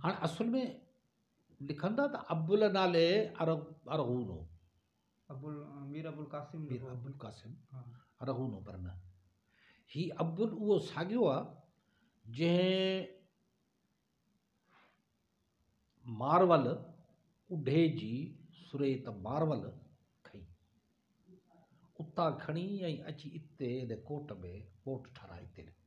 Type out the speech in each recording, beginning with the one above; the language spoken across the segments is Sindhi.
هاڻ اصل ۾ لکن ٿا ته ابوالله نالي ارغون هو مير ابوالقاسم مير ابوالقاسم ارغون هو پر نه هي ابوال اهو ساڳيو آهي جنهن مارول اڍي جي سريت مارول کئي اتان کڻي ۽ اچي اتي ان ڪوٽ ۾ ڪوٽ ٺاهرائي اتي لکي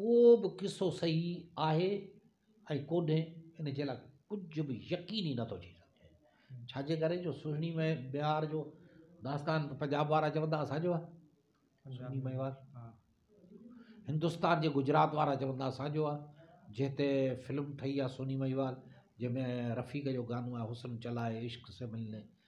ڪو به قصو صحيح آهي ۽ ڪونهي ان جي لاء ڪجهه به يقين ئي نٿو ٿي سگهي ڇاجي ڪري جو سهڻي مئي بهار جو داستان پنجاب وارا چوندا اسانجو آهي سهڻي مئي بهار هندستان جي گجرات وارا چوندا اسانجو آهي جنهن تي فلم ٺهي آهي سهڻي مئي بهار جنهن ۾ رفيق جو گانو آهي حسن چلائي عشق سي ملني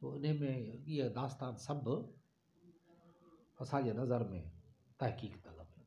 سو انهي ۾ اهي داستان سڀ اسان جي نظر ۾ تحقيق طلب آهن.